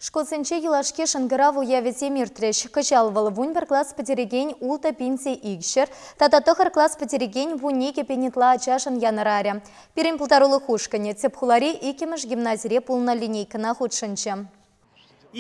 Шкулсенче юлашки шӑнкӑрав уявӗсем иртрӗҫ. Кӑҫал вӑл вун пӗр класс пӗтерекен ултӑ пинсе икҫӗр тата тӑхӑр класс пӗтерекен вун икӗ пин ытла ачашӑн янӑрарӗ. Пирӗн пултарулӑх ушкӑнӗ тӗп хулари иккӗмӗш гимназире пулнӑ линейкӑна хутшӑнчӗ.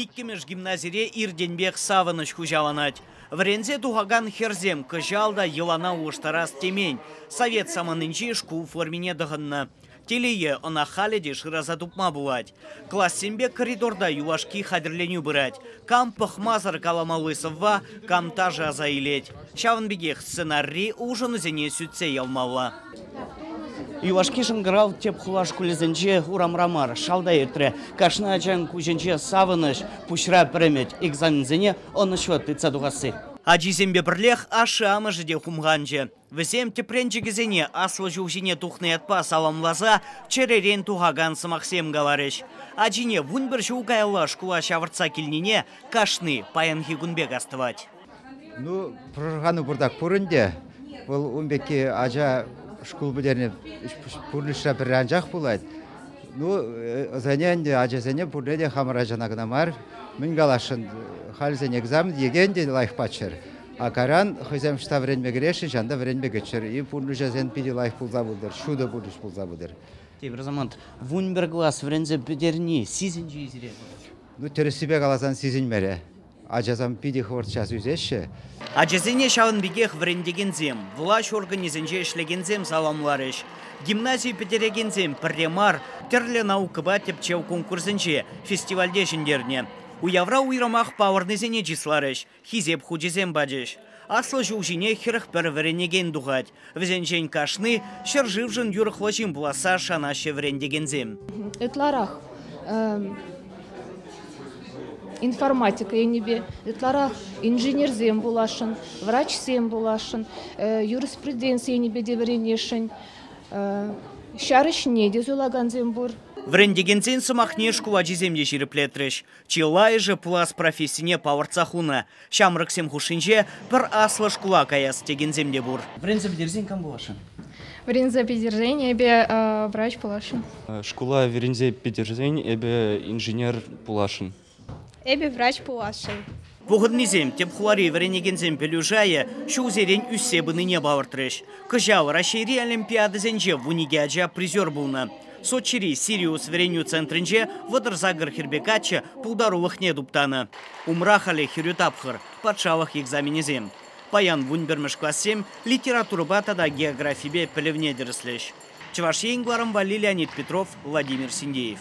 Иккӗмӗш гимназире иртенпех савӑнӑҫ хуҫаланать. Вӗренсе тухакан хӗрсем кӑҫал та йӑлана улӑштарас темен, совет саманинчи шкул формине тӑхӑннӑ. Телее, ӑна халӗ те шыраса тупма пулать. Классемпе коридорта юлашки хатӗрленӳ пырать. Кам пӑхмасӑр каламалли сӑвва, кам ташӑ аса илет. Ҫавӑн пекех сценарри улшӑнусене сӳтсе явмалла. Юлашки шӑнкӑрав тӗп хула шкулӗсенче урамра мар, шалта иртрӗ. Кашни ачан куҫӗнче савӑнӑҫ, пуҫра пӗремет экзаменсене ӑнӑҫлӑ тытса тухасси. Ачисемпе пӗрлех ашшӗ-амӑшӗ те хумханчӗ. Вӗсем тӗпренчӗкӗсене аслӑ ҫул ҫине тухнӑ ятпа саламласа чӗререн тухакан сӑмахсем каларӗҫ. Ачине вун пӗр ҫул каялла шкула ҫавӑртса килнине кашни паянхи кун пек астӑвать. Ну, пӑшӑрхану пуртак пур ӗнтӗ. Вӑл ун пекки ача шкул пӗтернӗ пурнӑҫра пӗрре анчах пулать. Ну, ӑсене ӗнтӗ, ачасене пурне те хамӑр ачана кӑна мар, мӗн каласшӑн, халӗсен экзамен екен те лайӑх паччӑр. Акаран хӑйсем ӑҫта вӗренме кӗресшӗн, ҫавӑнта вӗренме кӗччӗр-и, пурнӑҫӗсем питӗ лайӑх пулса пытӑр, ҫутӑ пурнӑҫ пулса пытӑр. Тепӗр самант вун пӗр класс вӗренсе пӗтерни сисӗнчӗ-и сире? Ну, тӗрӗссипе каласан сисӗнмерӗ. Ачасем питӗ хӑвӑрт час ӳсеҫҫӗ. Ачасене ҫавӑн пекех вӗрентекенсем, влаҫ органӗсенче ӗҫлекенсем саламларӗҫ. Гимнази пӗтерекенсем пӗрре мар тӗрлӗ наукӑпа тӗпчев конкурсӗнче фестивальте ҫӗнтернӗ. Уявра уйрӑмах палӑрнисене чысларӗҫ. Хисеп хучӗсем пачӗҫ. Аслӑ ҫул ҫине хӗрӗх пӗр вӗренекен тухать. Вӗсенчен кашни ҫӗршывшӑн юрӑхлӑ ҫын пуласса шанаҫҫӗ вӗрентекенсем. Ытларах информатика енӗпе, ытларах инженерсем пуласшӑн, врачсем пуласшӑн, юриспруденци енӗпе те вӗренесшӗн. Ҫар ӗҫне те суйлакансем пур. Вӗрентекенсен сӑмахне шкул ачисем те ҫирӗплетрӗҫ. Чылайӑшӗ пулас профессине палӑртса хунӑ. Ҫамрӑксем хушшинче пӗр аслӑ шкула каяс текенсем те пур. Вӗренсе пӗтерсен кам пуласшӑн? Вӗренсе пӗтерсен эпӗ врач пуласшӑн. Шкула вӗренсе пӗтерсен эпӗ инженер пуласшӑн. Эпӗ врач пуласшӑн. Пухӑннисем тӗп хулари вӗренекенсен пӗлӳ шайӗ ҫулсерен ӳссе пынине палӑртрӗҫ. Кӑҫал Раҫҫейри олимпиадӑсенче вун икӗ ача призер пулнӑ. Сочири Сириус вӗренӳ центрӗнче вӑтӑр сакӑр хӗрпе каччӑ пултарулӑхне туптанӑ. Умра халӗ хӗрӳ тапхӑр, патшалӑх экзаменӗсем. Паян вун пӗрмӗш классем литературӑпа тата географипе пӗлӗвне тӗрӗслӗҫ. Чӑваш Ен кӑларӑм валли Леонид Петров, Владимир Синдеев.